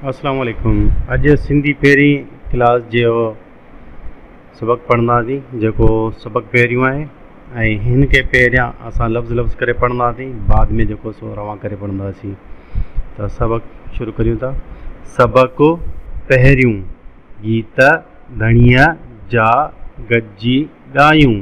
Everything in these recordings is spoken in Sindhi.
اسلام عليڪم اڄ سنڌي پهرين ڪلاس جو سبق پڙهنداسين جيڪو سبق پهريون آهي ۽ هن کي پهريان اسان لفظ لفظ ڪري پڙهنداسين بعد ۾ جيڪو سو روان ڪري پڙهنداسين ته سبق شروع ڪريون ٿا سبق پهريون گيت ڌڻيء جا گڏجي ڳايون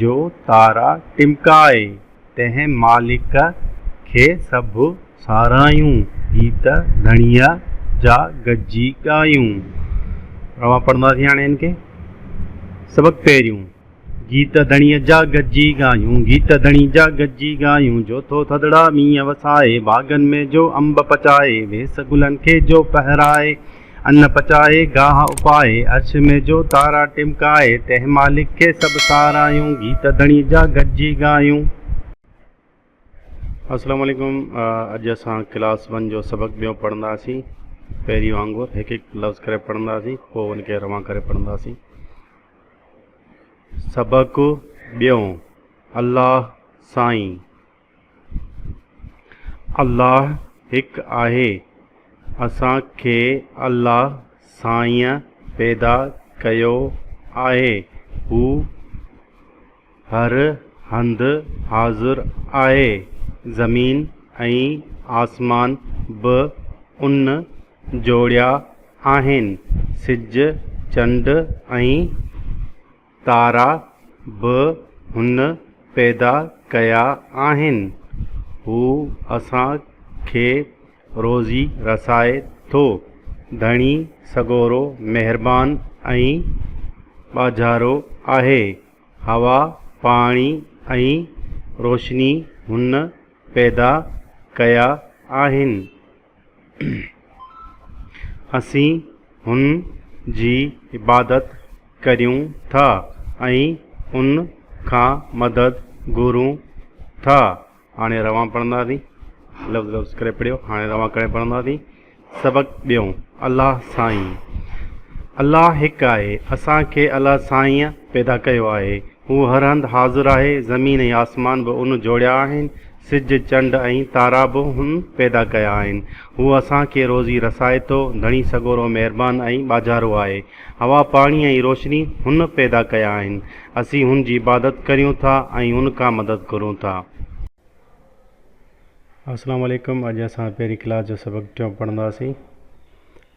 جو تارا ٽمڪائي، تنهن مالڪ کي سڀ ساراهيون، گيت ڌڻيء جا گجي ڳايون. اوهان پڙهنداسين هاڻي هن کي. سبق پهريون. گيت ڌڻيء جا گجي ڳايون، گيت ڌڻي جا گجي ڳايون، جو ٿو ٿڌڙا مينهن وسائي، باغن ۾ جو انب پچائي، ويس گلن کي جو پهرائي، ان پچائي گاهه اپائي، عرش ۾ جو تارا ٽمڪائي، تنهن مالڪ کي سڀ سارايون، گيت ڌڻي جا گڏجي ڳايون. السلام عليڪم اڄ اسان ڪلاس ون جو سبق ٻيون پڙهنداسين پهرين وانگر هڪ هڪ لفظ ڪري پڙهنداسين پوء ان کي روان ڪري پڙهنداسين سبق ٻيون الله سائين الله هڪ آهي. اسان کي الله سائين پيدا ڪيو آهي. هو هر هنڌ حاضر آهي. زمين ۽ آسمان به ان جوڙيا آهن. سج، چنڊ ۽ تارا به هن پيدا ڪيا آهن. هو اسان کي روزي رسائي ٿو. ڌڻي سڳورو مهربان ۽ ٻاجهارو آهي. هوا، پاڻي ۽ روشني هن پيدا ڪيا آهن. اسين هن جي عبادت ڪريون ٿا ۽ ان کان مدد گهرون ٿا هاڻي روان پڙهنداسين لفظ لفظ ڪري پڙهيو هاڻي روان ڪري پڙهنداسين سبق ٻيون الله سائين الله هڪ آهي اسانکي الله سائينء پيدا ڪيو آهي هو هر هنڌ حاضر آهي زمين ۽ آسمان به ان جوڙيا آهن سج، چنڊ ۽ تارا به هن پيدا ڪيا آهن. هو اسان کي روزي رسائي ٿو. ڌڻي سڳورو مهربان ۽ ٻاجهارو آهي. هوا، پاڻي ۽ روشني هن پيدا ڪيا آهن. اسين هن جي عبادت ڪريون ٿا ۽ هن کان مدد گهرون ٿا. السلام عليڪم اڄ اسان پهرين ڪلاس جو سبق ٽيون پڙهنداسين.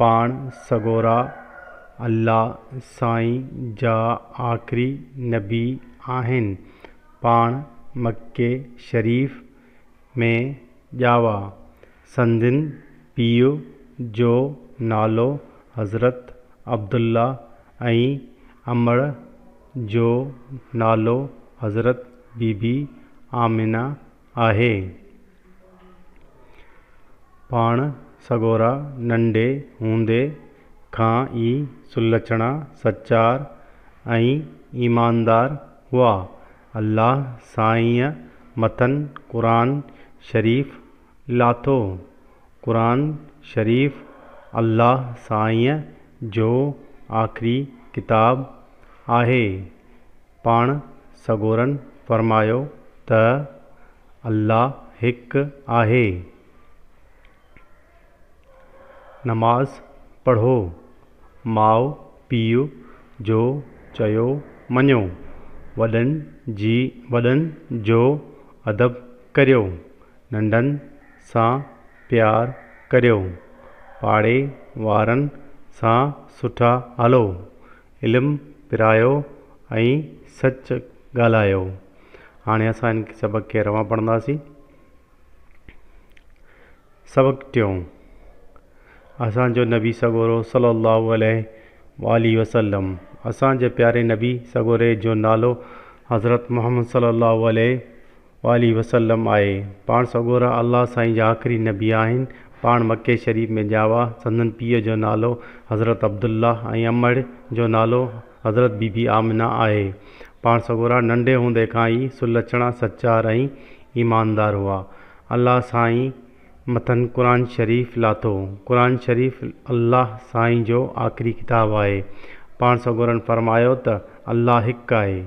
پاڻ سڳورا الله سائين جا آخري نبي آهن. پاڻ مڪي شريف ۾ ڄاوا. سندن پيء جو نالو حضرت عبدالله ۽ امڙ جو نالو حضرت بيبي آمنه آهي. پاڻ سڳورا ننڍي هوندي کان ئي سلڇڻا، سچار ۽ ايماندار هئا. الله سائينء مٿن قرآن شريف لاٿو. قرآن شريف الله سائينء جو آخري ڪتاب آهي. پاڻ سڳورن فرمايو ته، الله هڪ آهي. نماز پڙهو. ماء پيء جو چيو مڃو. وڏن جي وڏن جو ادب ڪريو. ننڍن سان پيار ڪريو. پاڙي وارن سان سٺا هلو. علم پرايو ۽ سچ ڳالهايو هاڻي اسان هن سبق کي روان پڙهنداسين. سبق ٽيون، اسان جو نبي سڳورو صلي الله عليه وآله وسلم، اسان جي پياري نبي سڳوري جو نالو حضرت محمد صلي الله عليه وآله وسلم آهي. پاڻ سڳورا الله سائين جا آخري نبي آهن. پاڻ مڪي شريف ۾ ڄاوا. سندن پيء جو نالو حضرت عبدالله ۽ امڙ جو نالو حضرت بي بي آمنه آهي. پاڻ سڳورا ننڍي هوندي کان ئي سلڇڻا، سچار ۽ ايماندار هئا. الله سائين مٿن قرآن شريف لاٿو. قرآن شريف الله سائين جو آخري ڪتاب آهي. پاڻ سڳورن فرمايو ته الله هڪ آهي.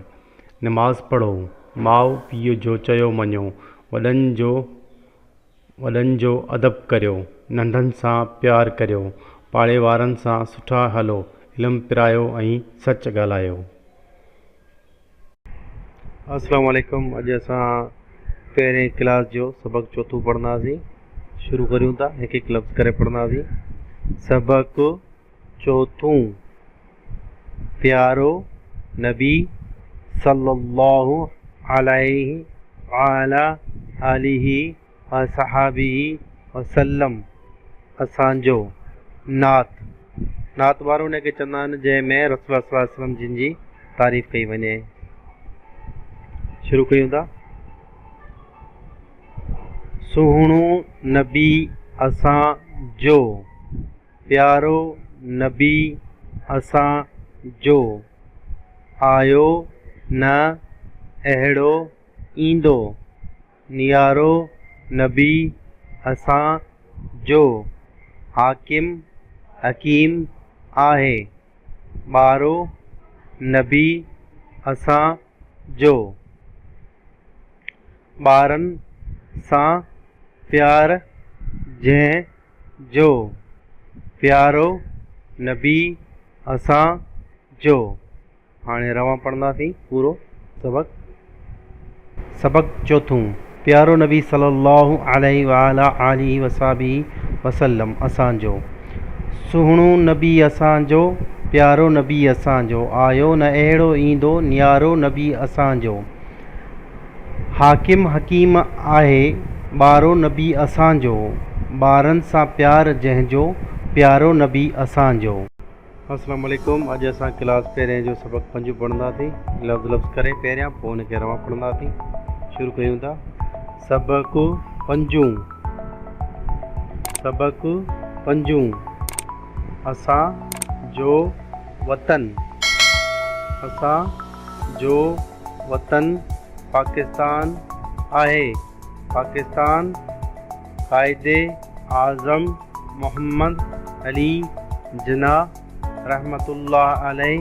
نماز پڙهو، ماء پيء جو چيو مڃو، وڏن جو وڏن جو ادب ڪريو، ننڍن سان پيار ڪريو، پاڙي وارن سان سٺا هلو، علم پرايو ۽ سچ ڳالهايو. السلام عليڪم اڄ اسان پهرين ڪلاس جو سبق چوٿون پڙهنداسين شروع ڪريون ٿا هڪ هڪ لفظ ڪري پڙهنداسين سبق. چوٿون، پيارو نبي صلّي اللّٰه عليه وعلٰي آله وصحٰبه وسلّم اسان جو نعت، نعت وارو ان کي چوندا آهن جنهن ۾ رسول الله صلّي اللّٰه عليه وسلّم جن جي تعريف ڪئي وڃي. شروع ڪيون ٿا. سهڻو نبي اسان جو. پيارو نبي اسان جو، آيو نه اهڙو ايندو، نيارو نبي اسان جو، حاڪم حڪيم آهي، ٻارو نبي اسان جو، ٻارن سان پيار جنهن جو پيارو نبي اسان جو. هاڻي روان پڙهنداسين پورو سبق. سبق چوٿون، پيارو نبي صلي الله عليه وعلي آله وصحبه وسلم اسان جو. سهڻو نبي اسان جو، پيارو نبي اسان جو، آيو نه اهڙو ايندو نيارو نبي اسان جو. حاڪم حڪيم آهي ٻارو نبي اسان جو. ٻارن سان پيار جنهن جو پيارو نبي اسان جو. السلام عليڪم اڄ اسان ڪلاس پهرين جو سبق پنج پڙهندا ٿي لفظ لفظ ڪري پهريان پوء ان کي روان پڙهندا ٿي شروع ڪيون ٿا سبق پنجون سبق پنجون اسان جو وطن اسان جو وطن پاڪستان آهي. پاڪستان قائد اعظم محمد علي جناح رحمة الله عليه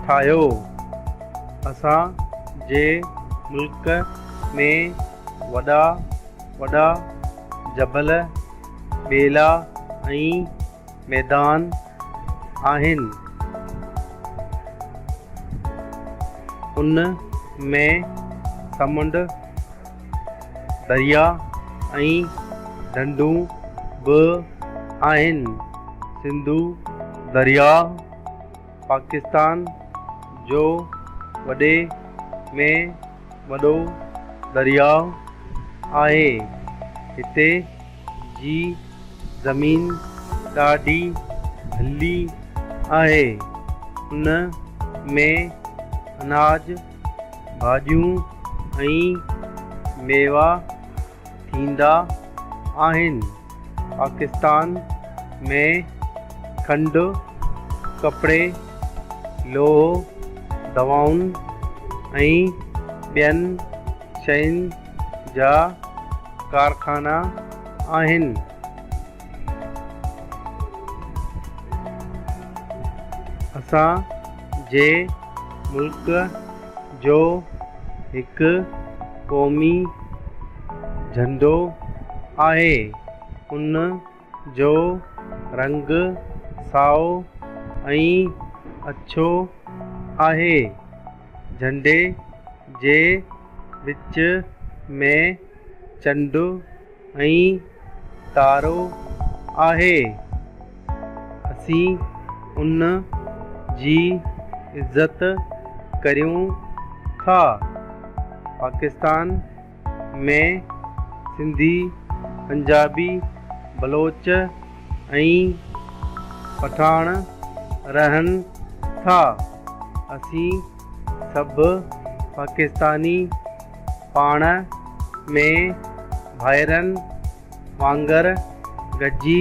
ٺاهيو. اسان جي ملڪ ۾ وڏا وڏا جبل، ٻيلا ۽ ميدان آهن ان ۾ سمنڊ، دريا ۽ ڍنڍون به آهن. سنڌو درياهه. پاڪستان جو وڏي ۾ وڏو درياء آهي. هتي جي زمين ڏاڍي ڀلي آهي. ان ۾ اناج، ڀاڄيون ۽ ميوا ٿيندا آهن. پاڪستان ۾ کنڊ، ڪپڙي، لوهه، دوائن ۽ ٻين شين جا ڪارخانا آهن. اسان جي ملڪ جو هڪ قومي جهنڊو آهي. ان جو رنگ سائو ۽ اڇو آهي. جهنڊي جي وچ ۾ چنڊ ۽ تارو آهي. اسين ان جي عزت ڪريون ٿا. پاڪستان ۾ سنڌي، پنجابي، بلوچ ۽ پٺاڻ رهن ٿا. اسين سڀ پاڪستاني پاڻ ۾ ڀائرن وانگر گڏجي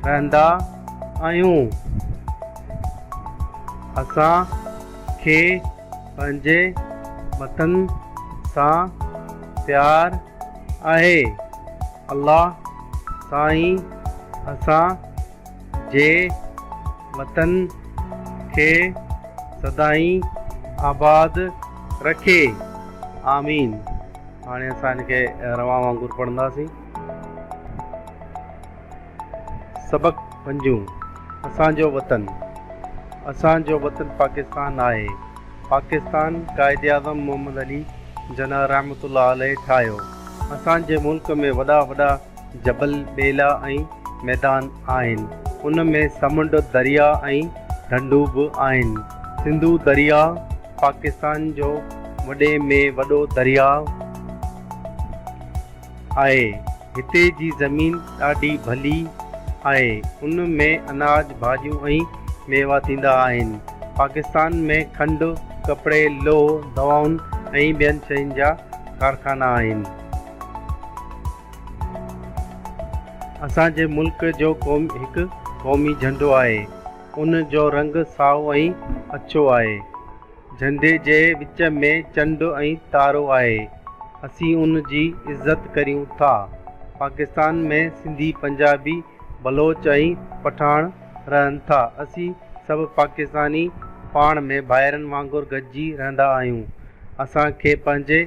رهندا آهيون. اسان کي پنهنجي وطن سان پيار آهي. الله سائين اسان جي وطن کي سدائين آباد رکي آمين هاڻي اسان ان کي روان وانگر پڙهنداسين سبق پنجون اسان جو وطن اسان جو وطن پاڪستان آهي پاڪستان قائد اعظم محمد علي جناح رحمة الله عليه ٺاهيو اسان جي ملڪ ۾ وڏا وڏا جبل، ٻيلا ۽ ميدان آهن. ان ۾ سمنڊ، درياء ۽ ڍنڍون به آهن. سنڌو درياء پاڪستان جو وڏي ۾ وڏو درياء آهي. هتي جي زمين ڏاڍي ڀلي آهي. ان ۾ اناج، ڀاڄيون ۽ ميوا ٿيندا آهن. پاڪستان ۾ کنڊ، ڪپڙي، لوهه، دوائن ۽ ٻين شين جا ڪارخانا آهن. اسان جي ملڪ جو هڪ قومي جهنڊو آهي. ان جو رنگ سائو ۽ اڇو آهي. جهنڊي جي وچ ۾ چنڊ ۽ تارو آهي. اسين ان جي عزت ڪريون ٿا. پاڪستان ۾ سنڌي، پنجابي، بلوچ ۽ پٺاڻ رهن ٿا. اسين سڀ پاڪستاني پاڻ ۾ ڀائرن وانگر گڏجي رهندا آهيون. اسان کي پنهنجي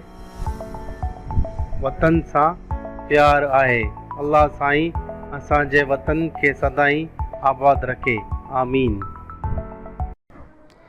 وطن سان پيار آهي. الله سائين اسان جي وطن کي سدائين آباد رکي. آمين.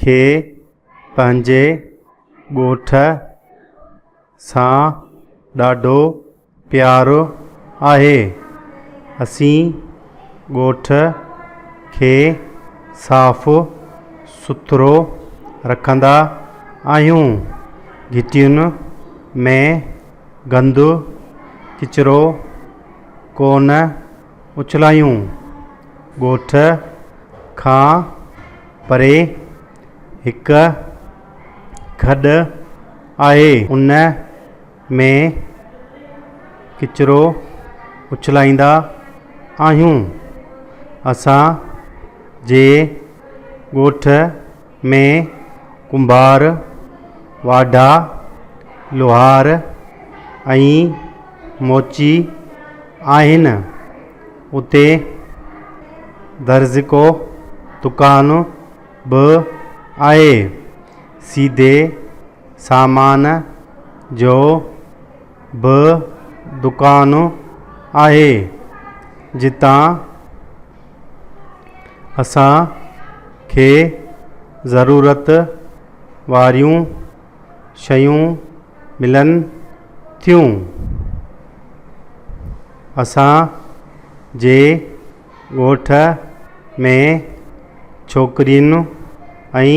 کي پنهنجي ڳوٺ سان ڏاڍو پيار آهي اسين ڳوٺ کي صاف سٿرو رکندا آهيون گهٽين ۾ گند ڪچرو ڪونه اڇلايون، ڳوٺ کان پري هڪ کڏ آهي، ان ۾ ڪچرو اڇلائيندا آهيون، اسان جي ڳوٺ ۾ ڪنڀار، واڍا، لوهار ۽ موچي آهن. اتي درزڪو دڪان به آهي. سيڌي سامان جو به دڪان آهي، جتان اسان کي ضرورت واريون شيون ملن ٿيون اسان جي ڳوٺ ۾ ڇوڪرين ۽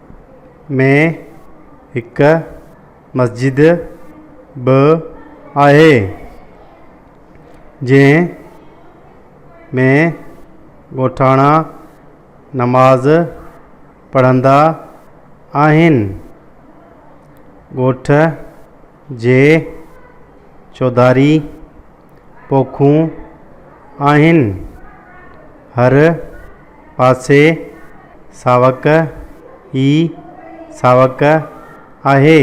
۾ هڪ مسجد به آهي جنهن ۾ ڳوٺاڻا نماز پڙهندا آهن ڳوٺ جي چوڌاري پوکون آهن. هر پاسي ساوڪ ئي ساوڪ آهي.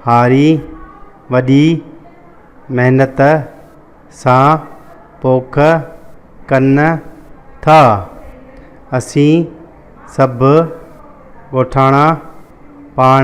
هاري وڏي محنت سان پوک ڪن ٿا. اسين سڀ ڳوٺاڻا پاڻ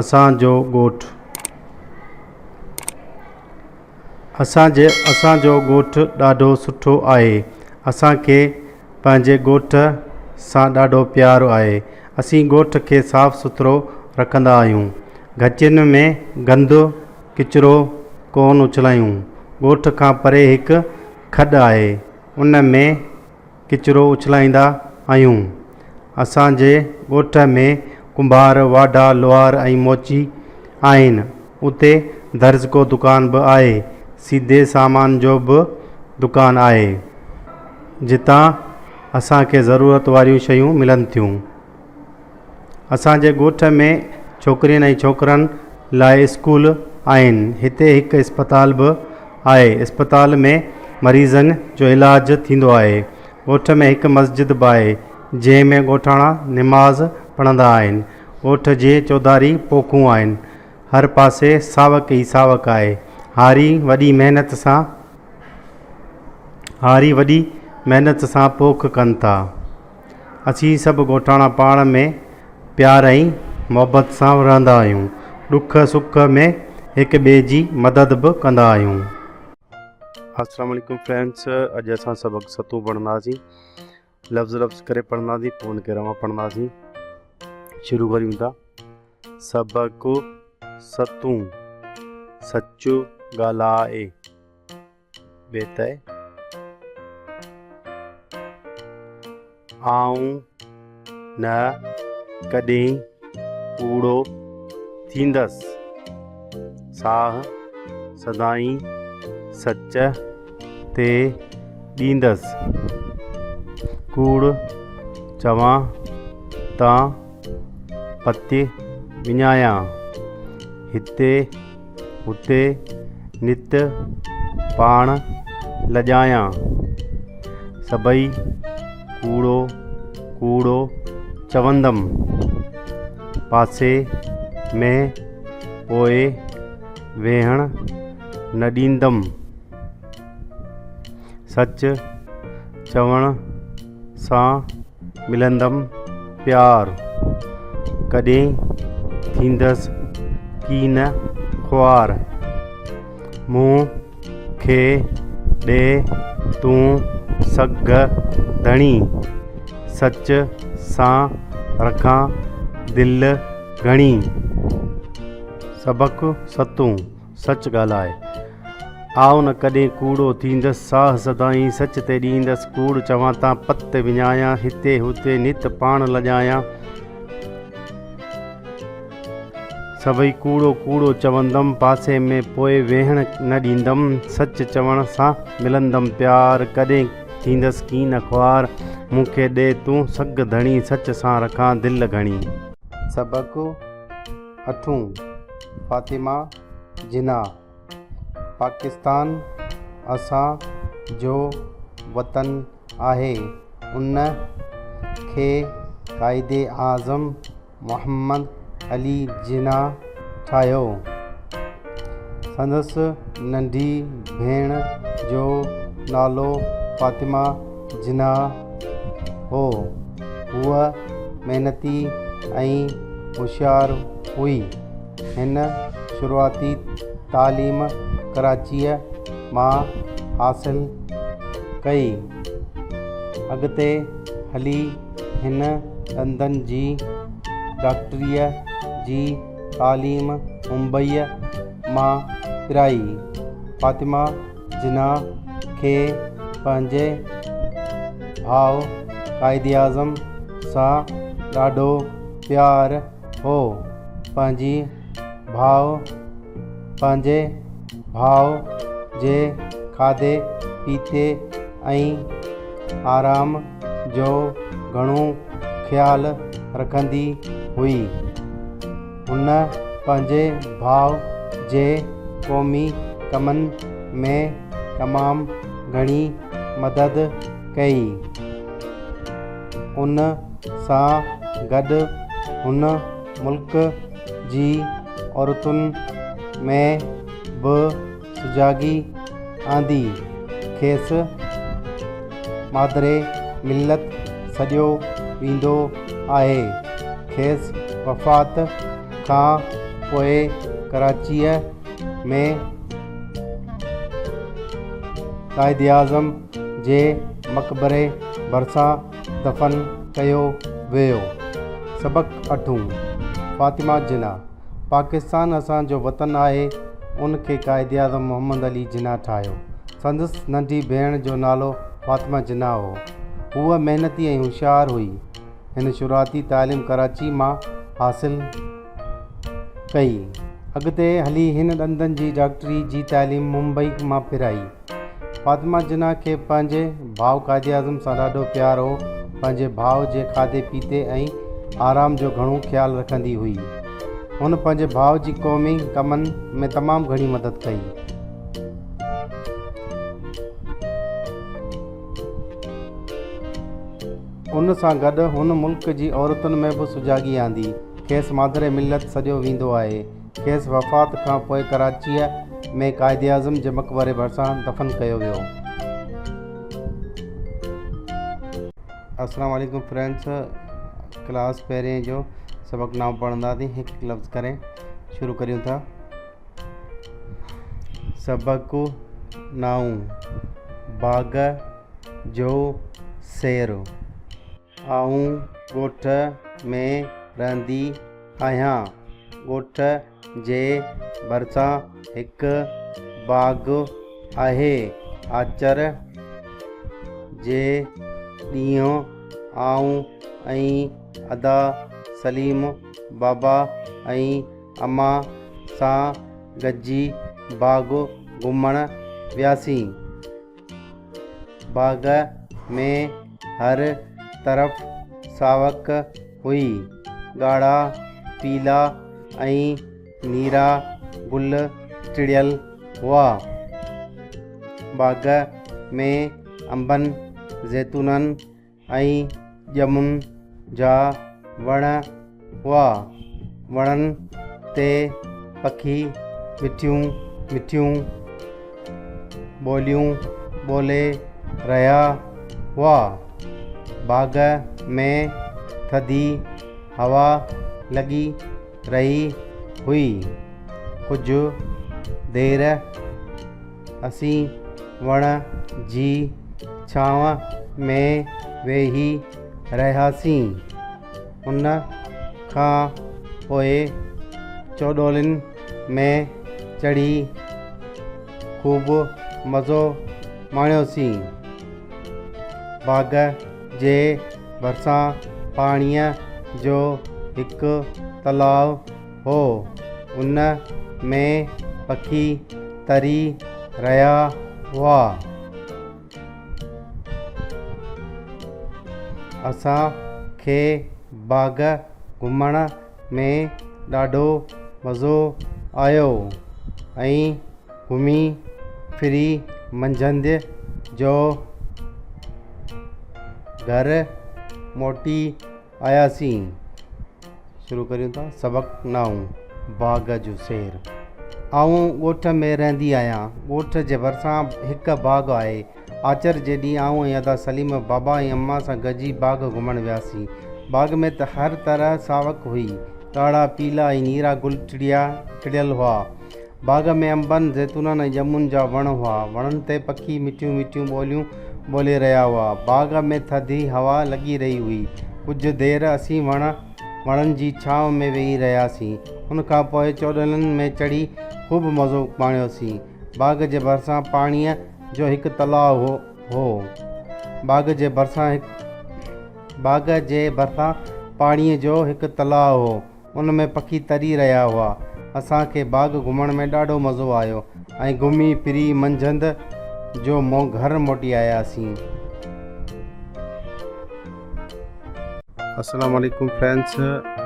اسان جو ڳوٺ اسان جي اسان جو ڳوٺ ڏاڍو سٺو آهي اسان کي پنهنجي ڳوٺ سان ڏاڍو پيار آهي اسين ڳوٺ کي صاف سٿرو رکندا آهيون گهچين ۾ گند ڪچرو ڪون اڇلائيون ڳوٺ کان پري هڪ کڏ آهي ان ۾ ڪچرو اڇلائيندا آهيون. اسان جي ڳوٺ ۾ ڪنڀار، واڍا، لوهار ۽ موچي آهن. اتي درزڪو دڪان به آهي. سيڌي سامان جو به دڪان آهي. جتان اسان کي ضرورت واريون شيون ملن ٿيون. اسان جي ڳوٺ ۾ ڇوڪرين ۽ ڇوڪرن لاء اسڪول آهن هتي هڪ اسپتال به آهي اسپتال ۾ مريضن جو علاج ٿيندو آهي ڳوٺ ۾ هڪ مسجد به آهي جنهن ۾ ڳوٺاڻا نماز پڙهندا آهن ڳوٺ جي چوڌاري پوکون آهن هر پاسي ساوڪ ئي ساوڪ آهي هاري وڏي محنت سان هاري وڏي محنت سان پوک ڪن ٿا اسين سڀ ڳوٺاڻا پاڻ ۾ پيار ۽ محبت سان رهندا آهيون. ڏک سک ۾ هڪ ٻئي جي مدد به ڪندا آهيون. السلام عليڪم فرينڊس اڄ اسان سبق ستون پڙهنداسين لفظ لفظ ڪري پڙهنداسين پوء ان کي روان پڙهنداسين شروع ڪريون ٿا سبق ستون سچ ڳالهائي بيتي آئون نه ڪڏهن ڪوڙو ٿيندس ساهه سدائين سچ تي ڏيندس ڪوڙ چوان ته پتي وڃايان هتي هتي نت پاڻ لڄايان، سڀئي ڪوڙو ڪوڙو چوندم. پاسي ۾ پوء ويهڻ نه ڏيندم. سچ چوڻ. سان ملندم پيار، ڪڏهن ٿيندس ڪين خوار. مون کي ڏي تون سگهه ڌڻي، سچ سان رکان دل گهڻي. سبق ستون. سچ ڳالهاء آء نه ڪڏهن ڪوڙو ٿيندس، ساهه سدائين سچ تي ڏيندس، ڪوڙ چوان تان پت تي وڃايان، هتي هتي نت پاڻ لڄايان، سڀئي ڪوڙو ڪوڙو چوندم، پاسي ۾ پوء ويهڻ نه ڏيندم، سچ چوڻ سان ملندم پيار، ڪڏهن ٿيندس ڪين خوار، مون کي ڏي تون سگهه ڌڻي، سچ سان رکان دل گهڻي. سبق. اٿون، فاطمه جناح، پاڪستان اسان جو وطن آهي، ان کي قائداعظم محمد علي جناح ٺاهيو، سندس ننڍي ڀيڻ جو نالو فاطمه جناح هو. هوء محنتي ۽ هوشيار هئي. هن شروعاتي تعليم ڪراچيء مان حاصل ڪئي. اڳتي هلي هن ڏندن جي ڊاڪٽريء جي تعليم ممبئيء مان پرائي. فاطمه جناح کي پنهنجي ڀاء قائداعظم سان ڏاڍو پيار هو پنهنجي ڀاء پنهنجي ڀاء جي کاڌي پيتي ۽ آرام جو گهڻو خيال رکندي هئي. هن پنهنجي ڀاء جي قومي ڪمن ۾ تمام گهڻي مدد ڪئي. ان سان گڏ هن ملڪ جي عورتن ۾ به سجاڳي آندي، کيس مادري ملت سڏيو ويندو آهي. کيس وفات کان پوء ڪراچيء ۾ قائداعظم جي مقبري ڀرسان دفن ڪيو ويو. سبق اٺون، فاطمه جناح. پاڪستان اسان جو وطن آهي ان کي قائد اعظم محمد علي جناح ٺاهيو سندس ننڍي ڀيڻ جو نالو فاطمه جناح هو هوء محنتي ۽ هوشيار هئي هن شروعاتي تعليم ڪراچي مان حاصل ڪئي اڳتي هلي هن ڏندن جي ڊاڪٽري جي تعليم ممبئي مان پرائي فاطمه جناح کي پنهنجي ڀاء قائداعظم سان ڏاڍو پيار هو. پنهنجي ڀاء جي کاڌي پيتي ۽ آرام جو گهڻو خيال رکندي هئي. هن پنهنجي ڀاء جي قومي ڪمن ۾ تمام گهڻي مدد ڪئي. ان سان گڏ هن ملڪ جي عورتن ۾ به سجاڳي آندي. کيس مادر ملت سڏيو ويندو آهي. کيس وفات کان پوء ڪراچيء ۾ قائداعظم جي مقبري ڀرسان دفن ڪيو ويو. السلام عليڪم فرينڊس ڪلاس پهرين جو سبق نائون پڙهنداسين هڪ هڪ لفظ ڪري شروع ڪريون ٿا سبق نائون باغ جو سير آئون ڳوٺ ۾ رهندي آهيان. ڳوٺ جي ڀرسان هڪ باغ آهي. آچر جي ڏينهن آئون ۽ ادا سليم بابا ۽ اما سان گڏجي باغ گهمڻ وياسين. باغ ۾ هر طرف ساوڪ هئي. ڳاڙها، پيلا ۽ نيرا گل ٽڙيل هئا. باغ ۾ انبن، زيتونن ۽ ڄمن جا وڻ هئا. وڻن تي پکي مٺيون مٺيون ٻوليون ٻولي رهيا هئا. باغ ۾ ٿڌي هوا لڳي رهي هئي. ڪجهه دير اسين وڻ جي ڇانو ۾ ويهي رهياسين. ان کان پوء چوڏولين ۾ چڙهي خوب مزو ماڻيوسين. باغ جي ڀرسان پاڻيء جو هڪ تلاء هو. ان ۾ پکي تري رهيا هئا. اسان کي باغ گهمڻ ۾ ڏاڍو مزو آيو ۽ گهمي ڦري منجهند جو گهر موٽي آياسين شروع ڪريون ٿا سبق نائون باغ جو سير آئون ڳوٺ ۾ رهندي آهيان ڳوٺ جي ڀرسان هڪ باغ آهي آچر جي ڏينهن آئون ۽ ادا سليم بابا ۽ اما سان گڏجي باغ گهمڻ وياسين باغ ۾ ته هر طرح ساوڪ هئي ڳاڙها پيلا ۽ نيرا گل ٽڙيا ٽڙيل هئا باغ ۾ انبن، زيتونن ۽ ڄمن جا وڻ هئا. وڻن تي پکي مٺيون مٺيون ٻوليون ٻولي رهيا هئا. باغ ۾ ٿڌي هوا لڳي رهي هئي. ڪجهه دير اسين وڻ وڻن جي ڇانو ۾ ويهي رهياسين. ان کان پوء چؤڏنن ۾ چڙهي خوب مزو ماڻيوسين. باغ جي ڀرسان پاڻيء جو هڪ تلاء هو. باغ جي ڀرسان باغ جي ڀرسان پاڻيء جو هڪ تلاء هو. ان ۾ پکي تري رهيا هئا. اسان کي باغ گهمڻ ۾ ڏاڍو مزو آيو ۽ گهمي ڦري منجهند جو مون گهر موٽي آياسين. السلام عليڪم فرينڊس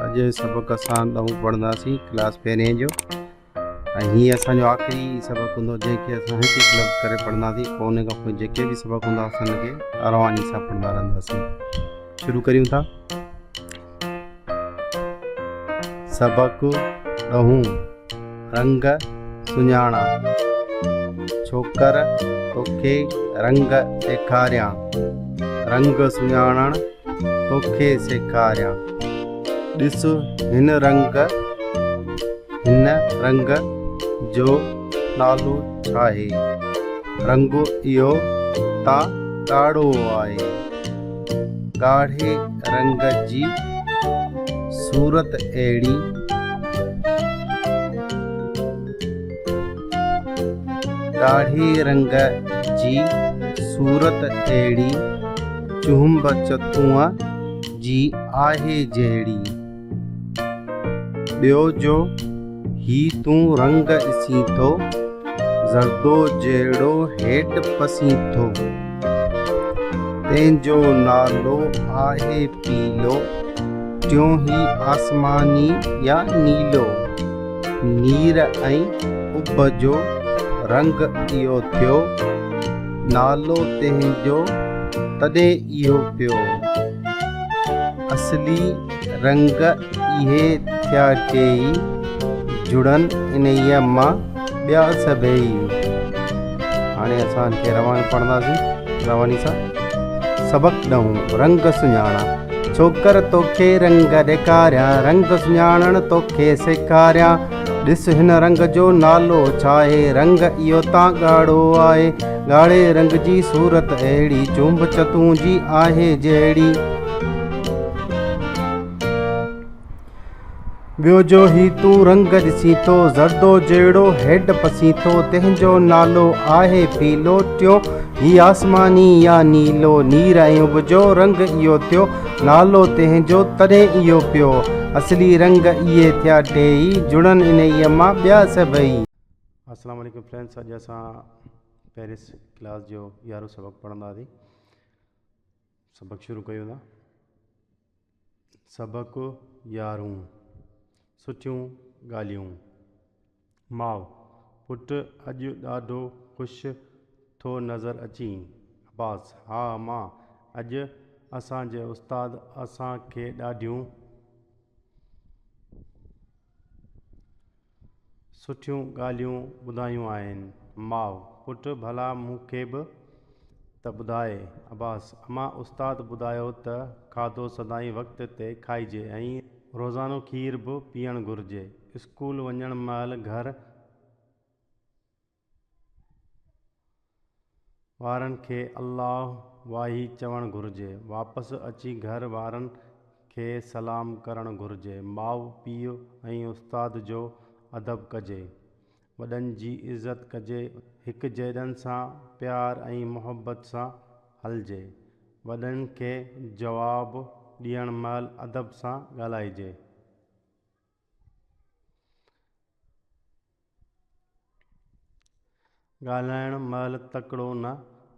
اڄ سبق اسان ڏهون پڙهنداسين ڪلاس پهرين جو ۽ هي اسان جو آخري سبق هوندو جنهن کي اسان هڪ هڪ لفظ ڪري پڙهنداسين پوء ان کان پوء جيڪي به سبق هوندا اسان ان کي ارواني سان پڙهندا رهنداسين شروع ڪريون ٿا سبق ڏهون رنگ سڃاڻا ڇوڪر توکي رنگ ڏيکاريان رنگ سڃاڻڻ توکي سيکاريان ڏس هن رنگ هن رنگ جو نالو ڇاهي رنگ اهو ته ڳاڙهو آهي ڳاڙهي رنگ جي صورت اهڙي ڳاڙهي رنگ جي صورت اهڙي، چهنب چتونء جي آهي جهڙي. ٻيو جو هي تون رنگ اسين ٿو، زردو جهڙو هيٺ پسين ٿو. تنهن جو نالو آهي پيلو، ٽيون هي آسماني يا نيلو. نير ۽ اڀ جو رنگ اهو ٿيو. نالو تنهنجو تڏهن اهو پيو. اصلي رنگ اهي ٿيا ٽيئي. جڙن انهيء مان ٻيا سڀيئي. هاڻي اسان کي روان پڙهنداسين رواني سان سبق ڏهون رنگ سڃاڻا ڇوڪر توکي رنگ ڏيکاريان رنگ سڃاڻڻ توکي سيکاريان ڏس هن رنگ جو نالو ڇا آهي رنگ اهو تان ڳاڙهو آهي ڳاڙهي رنگ جي صورت اهڙي چونب چتون جي آهي جهڙي ٻيو جو هي تون رنگ ڏسين ٿو زردو جهڙو هيڊ پسين ٿو تنهن جو نالو آهي پيلو ٽيون هي آسماني يا نيلو نير ۽ اڀ جو رنگ اهو ٿيو نالو تنهن جو تڏهن اهو پيو اصلي رنگ اهي ٿيا ٽيئي جڙن انهيء مان ٻيا سڀئي. السلام عليڪم فرينڊس اڄ اسان پيرس ڪلاس جو يارهون سبق پڙهنداسين سبق شروع ڪيون ٿا سبق يارهون، سٺيون ڳالهيون. ماء، پٽ اڄ ڏاڍو خوش ٿو نظر اچين. عباس، ها ماء اڄ اسان جي استاد اسان کي ڏاڍيون. سٺيون ڳالهيون ٻڌايون آهن. ماء، پٽ ڀلا مون کي به ته ٻڌاء. عباس، امان استاد ٻڌايو ته کاڌو سدائين وقت تي کائجي ۽ روزانو کير به پيئڻ گهرجي. اسڪول وڃڻ مهل گهر وارن کي الله واهي چوڻ گهرجي واپس اچي گهر وارن کي سلام ڪرڻ گهرجي ماء پيء ۽ استاد جو ادب ڪجي وڏن جي عزت ڪجي هڪ جيڏن سان پيار ۽ محبت سان هلجي وڏن کي جواب ڏيڻ مهل ادب سان ڳالهائجي ڳالهائڻ مهل تڪڙو نه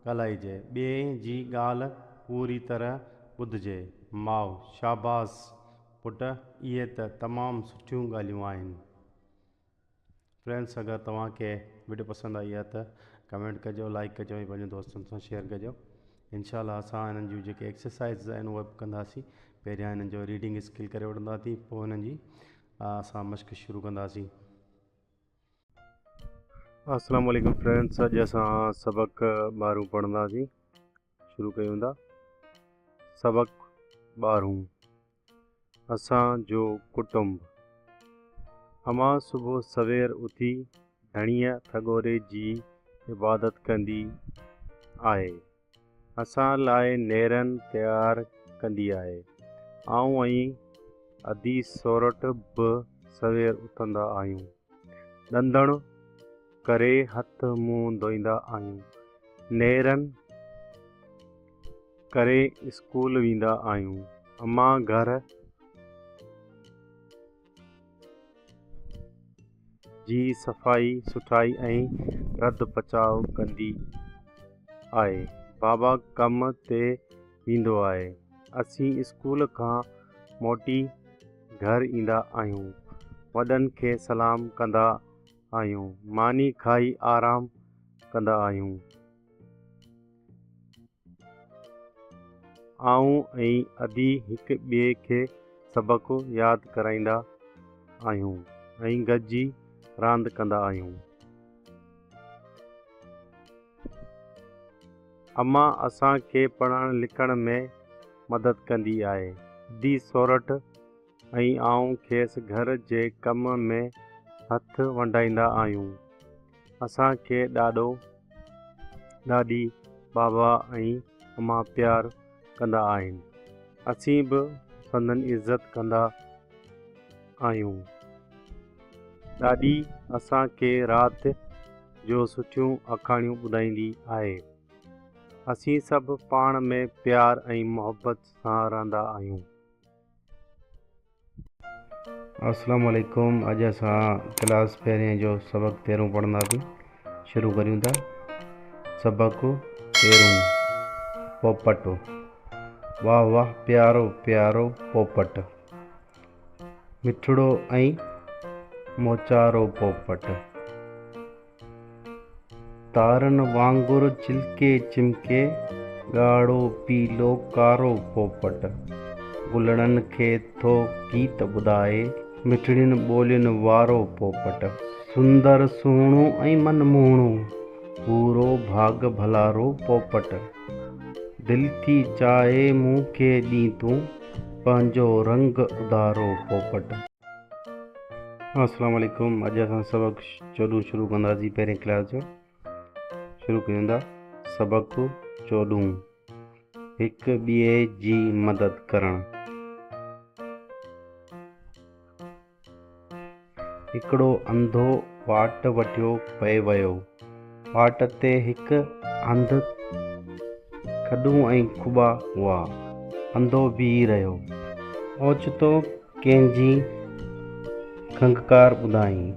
ڳالهائجي، ٻئي جي ڳالهه پوري طرح ٻڌجي. ماء، شاباس پٽ اهي ته تمام سٺيون ڳالهيون آهن. فرينڊس اگر توهان کي وڊيو پسند آئي آهي ته ڪمينٽ ڪجو لائڪ ڪجو ۽ پنهنجن دوستن سان شيئر ڪجو انشاء الله اسان هنن جون جيڪي ايڪسرسائز آهن اهي به ڪنداسين پهريان هنن جو ريڊنگ اسڪل ڪري وٺنداسين پوء هنن جي اسان مشق شروع ڪنداسين السلام عليڪم فرينڊس اڄ اسان سبق ٻارهون پڙهنداسين شروع ڪيو ويندا سبق ٻارهون اسان جو ڪٽنب امان صبح سوير اٿي ڌڻيء ٿڳوري جي عبادت ڪندي آهي اسان لاء نيرن تيار ڪندي آهي آئون ۽ ادي سورٺ به سوير اٿندا آهيون. ڏندڻ ڪري هٿ منهن ڌوئيندا آهيون، نيرن ڪري اسڪول ويندا آهيون، امان گهر جي صفائي سٿرائي ۽ رڌ پچاء ڪندي آهي، بابا ڪم تي ويندو آهي. اسين اسڪول کان موٽي گهر ايندا آهيون. وڏن کي سلام ڪندا آهيون. ماني کائي آرام ڪندا آهيون. آئون ۽ ادي هڪ ٻئي کي سبق ياد ڪرائيندا آهيون ۽ گڏجي راند ڪندا آهيون. اما اسان کي پڙهڻ لکڻ ۾ مدد ڪندي آهي. دي سورٺ ۽ آئون کيس گهر جي ڪم ۾ هٿ ونڊائيندا آهيون. اسان کي ڏاڏو، ڏاڏي، بابا ۽ اما پيار ڪندا آهن. اسين به سندن عزت ڪندا آهيون. ڏاڏي اسان کي رات جو سٺيون آکاڻيون ٻڌائيندي آهي. اسين سڀ پاڻ ۾ پيار ۽ محبت سان رهندا آهيون. السلام عليڪم اڄ اسان ڪلاس پهرين جو سبق تيرهون پڙهنداسين شروع ڪريون ٿا سبق تيرهون پوپٽ واهه واهه پيارو پيارو پوپٽ مٺڙو ۽ موچارو پوپٽ تارن وانگر چلڪي چمڪي، ڳاڙهو، پيلو، ڪارو پوپٽ گلڙن کي ٿو گيت ٻڌائي، مٺڙين ٻولين وارو پوپٽ. سندر، سهڻو ۽ من موهڻو، ڀورو، ڀاڳ ڀلارو پوپٽ دل ٿي چاهي مون کي ڏين تون. پنهنجو رنگ اڌارو پوپٽ. السلام عليڪم اڄ اسان سبق چوڏهون شروع ڪنداسين پهرين ڪلاس جو شروع ڪريون ٿا سبق چوڏهون هڪ ٻئي جي مدد ڪرڻ هڪڙو انڌو واٽ وٺيو پئي ويو. واٽ تي هڪ هنڌ کڏون ۽ کٻا هئا. انڌو بيهي رهيو. اوچتو ڪنهن جي کنگهڪار ٻڌائين.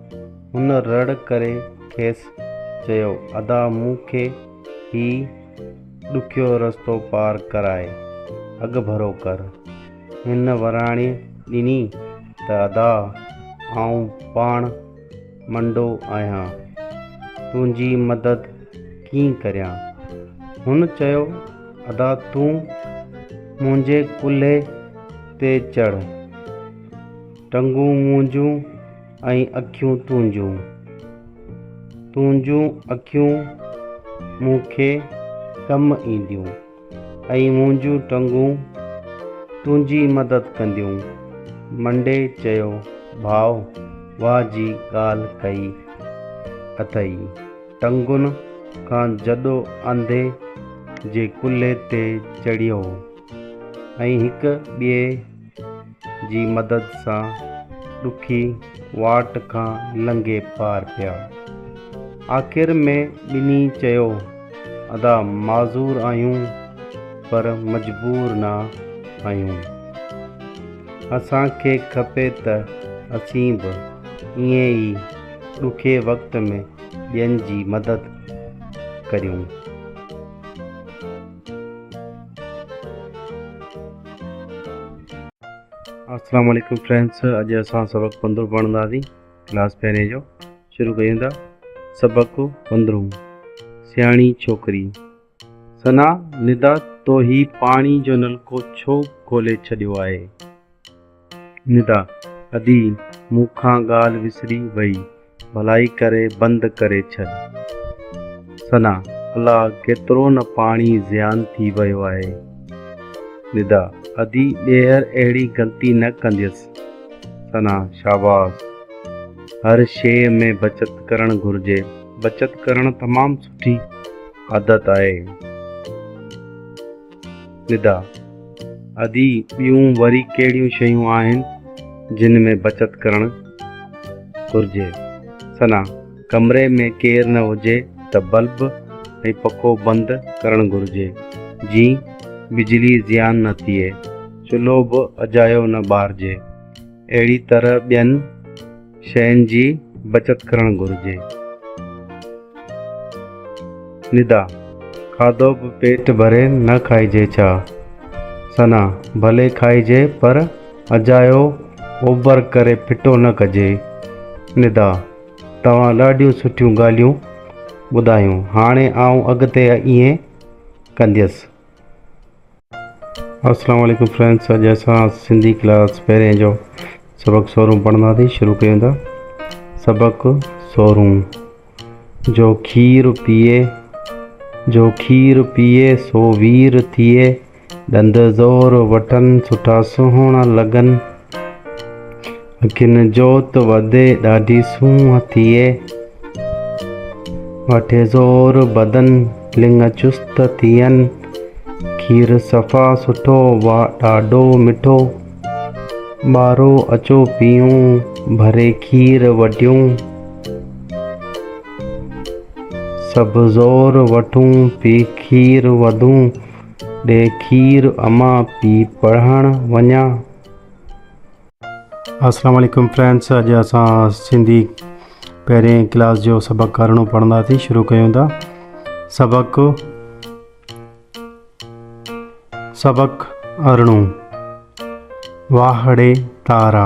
هن رڙ ڪري کيس چيو، ادا مون کي هي ڏکيو رستو پار ڪرائي اڳڀرو ڪر. هن وراڻي ڏني ته ادا آئون پاڻ منڊو آهيان، تنهنجي مدد ڪيئن ڪريان؟ هن چيو ادا تون منهنجي ڪلهي تي چڙهه، ٽنگون منهنجون ۽ اکيون تنهنجون، تنهنجون اکيون مون کي ڪم اينديون. ۽ منهنجون ٽنگون تنهنجي مدد ڪنديون. منڊي چيو، ڀاء واء جي ڳالهه ڪئي اٿئي. ٽنگن کان جڏو انڌي جي ڪلهي تي چڙهيو ۽ هڪ ٻئي جي مدد سان ڏکي واٽ کان لنگهي پار پيا. آخر ۾ ٻنهي چيو، ادا معذور آهيون پر مجبور نه آهيون. اسان کي کپي ته اسين به ائين ئي ڏکي وقت ۾ ٻين جي مدد ڪريون. السلام عليڪم فرينڊس اڄ اسان سبق پندرهون پڙهنداسين ڪلاس پهرين جو شروع ڪيون ٿا سبق پندرهون سياڻي ڇوڪري سنا ندا تو هي پاڻي جو نلڪو ڇو کولي ڇڏيو آهي ندا، ادي، مون کان ڳالهه وسري ويئي، ڀلائي ڪري بند ڪري ڇڏ. ثنا، الا، ڪيترو نه پاڻي زيان ٿي ويو آهي. ندا، ادي، ٻيهر اهڙي غلطي نه ڪنديس. ثنا، شاباس، هر شيء ۾ بچت ڪرڻ گهرجي. بچت ڪرڻ تمام سٺي عادت آهي. ندا، ادي ٻيون وري ڪهڙيون شيون آهن جن ۾ بچت ڪرڻ گهرجي؟ ثنا، ڪمري ۾ ڪير نه هجي ته بلب ۽ پکو بند ڪرڻ گهرجي جيئن بجلي زيان نه ٿئي، چلهو به اجايو نه ٻارجي، اهڙي طرح ٻين شين جي بچت ڪرڻ گهرجي. ندا، کاڌو به پيٽ ڀري نه کائجي ڇا؟ ثنا، ڀلي کائجي پر اجايو اوڀر ڪري ڦٽو نه ڪجي. ندا، توهان ڏاڍيون سٺيون ڳالهيون ٻڌايون هاڻي آئون اڳتي ائين ڪنديس. اسلام عليڪم فرينڊس اڄ اسان سنڌي ڪلاس پهرين جو سبق سورون پڙهنداسين شروع ڪيون ٿا سبق سورون جو کير پيئي جو کير پيئي سو وير ٿئي ڏند زور وٽن سٺا سهڻا لڳن گن جوت وڌي ڏاڍي سونهن ٿئي. وٺي زور بدن لڱ چست ٿين. کير صفا سٺو واء ڏاڍو مٺو. ٻارو اچو پيئون ڀري کير وڍيون. سڀ زور وٺون پي کير وڌون. ڏي کير امان پي پڙهڻ وڃان. اسلام عليڪم فرينڊس اڄ اسان سنڌي پهرين ڪلاس جو سبق ڪارڻو پڙهنداسين شروع ڪيون ٿا سبق سبق ارڻو واهڙي تارا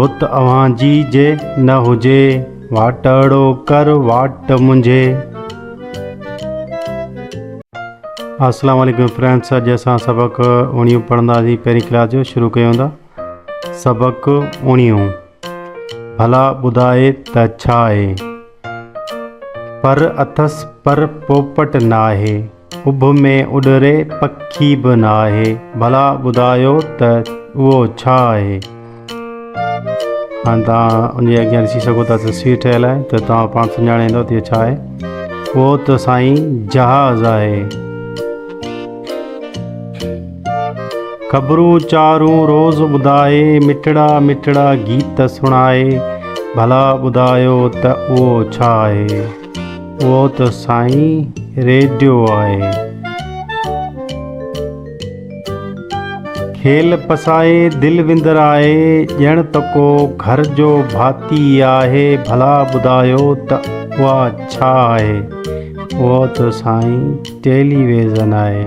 رت اوهان جي جي نه هجي، واٽهڙو ڪر واٽ منهنجي. السلام عليڪم فرينڊس اڄ اسان سبق اوڻيهون پڙهنداسين پهرين ڪلاس جو شروع ڪيون ٿا سبق اوڻيهون ڀلا ٻڌاء ته ڇا آهي پر اٿس پر پوپٽ ناهي اڀ ۾ اڏري پکي به ناهي ڀلا ٻڌايو ته اهو ڇا آهي؟ هاڻي توهان ان جي اڳيان ڏسي سگهو ٿا تصوير ٺهيل آهي ته توهان پاڻ سڃاڻي ويندو ته ڇا آهي اهو ته سائين جهاز آهي خبرون چارون روز ٻڌائي مٺڙا مٺڙا گيت سڻائي ڀلا ٻڌايو ته اهو ڇا آهي اهو ته سائين ريڊيو آهي. کيل پسائي دل وندر آهي ڄڻ ته ڪو گهر جو ڀاتي ئي آهي ڀلا ٻڌايو ته اها ڇا آهي؟ اهو ته سائين ٽيلي ويزن آهي.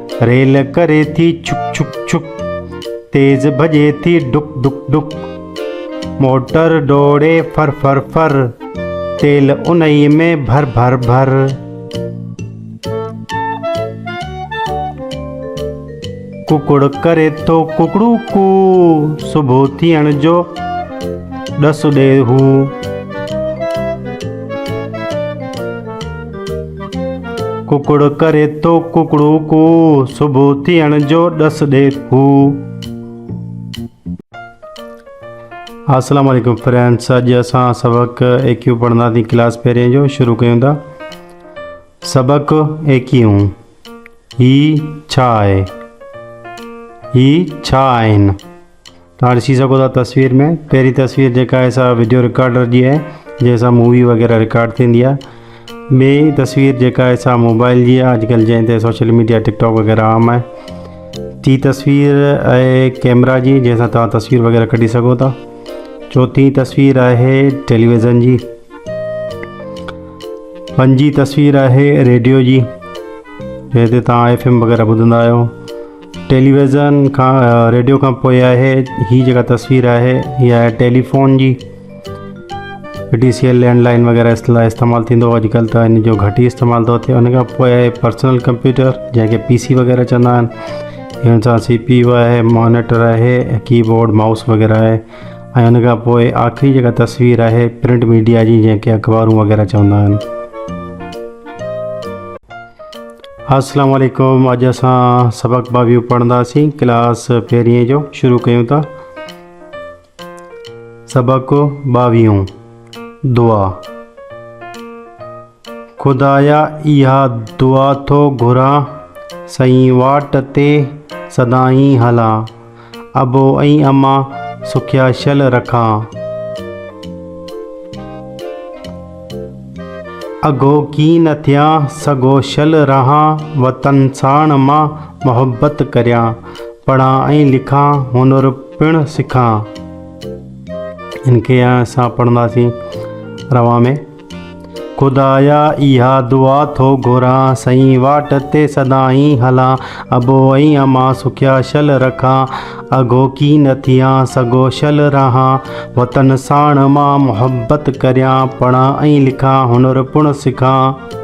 ريل ڪري ٿي ڇڪ ڇڪ ڇڪ، تيز ڀڄي ٿي ڊڪ ڊڪ ڊڪ، موٽر ڊوڙي ڦر ڦر ڦر، تيل انهيء ۾ ڀر ڀر ڀر. ڪڪڙ ڪري ٿو ڪڪڙو ڪو، صبح ٿيڻ جو ڏس ڏي هو. ڪڪڙ ڪري ٿو ڪڪڙو ڪو، صبح ٿيڻ جو ڏس ڏي ٿو. السلام عليڪم فرينڊس اڄ اسان سبق ايڪيو پڙھندا ٿي ڪلاس پھرين جو شروع ڪيون ٿا سبق ايڪيو ھي ڇا آھي ھي ڇا آھن تون ڏسي سگهو ٿا تصوير ۾ پهرين تصوير جيڪا آهي سا ويڊيو رڪارڊر جي آهي جنهن سان مووي وغيره رڪارڊ ٿيندي آهي ٻي تصوير جيڪا آهي سا موبائل جي آهي اڄڪلھ جنهن تي سوشل ميڊيا ٽڪ ٽاڪ وغيره عام آهي ٽي تصوير آهي ڪيمرا جي جنهن سان توهان تصوير وغيره ڪڍي سگهو ٿا چوٿين تصوير آهي ٽيليويزن جي پنجين تصوير آهي ريڊيو جي جنهن تي توهان ايف ايم وغيره ٻڌندا آهيو ٽيليويزن کان ريڊيو کان پوء آهي هي جيڪا تصوير آهي هي آهي ٽيليفون جي D C L landline وغيره اس لاء استعمال ٿيندو هو اڄڪلهه ته ان جو گهٽ ئي استعمال ٿو ٿئي ان کان پوء آهي پرسنل ڪمپيوٽر جنهن کي پي سي وغيره چوندا آهن ان سان سي پي يو آهي مانيٽر آهي ڪي بورڊ مائوس وغيره آهي ۽ ان کان پوء آخري جيڪا تصوير آهي پرنٽ ميڊيا جي جنهن کي اخبارون وغيره چوندا آهن السلام عليڪم اڄ اسان سبق باويهه پڙهنداسين ڪلاس پهرينء جو شروع ڪيون ٿا سبق باويهون دعا خدايا اها دعا ٿو گهران سائين واٽ تي سدائين هلان ابو ۽ اما سکيا شل رکان. اگهو ڪين نه ٿيان سگهو شل رهان وطن ساڻ مان محبت ڪريان پڙهان ۽ لکان هنر پڻ سکان. ان کي هاڻي اسان پڙهنداسين روان ۾. خدايا اها دعا ٿو گهران سئين واٽ تي سدائين هلان ابو ۽ اما سکيا شل رکان اگهوڪي نه ٿيان سگهو شل رهان وطن ساڻ مان محبت ڪريان پڙهان ۽ لکان هنر پڻ سکان.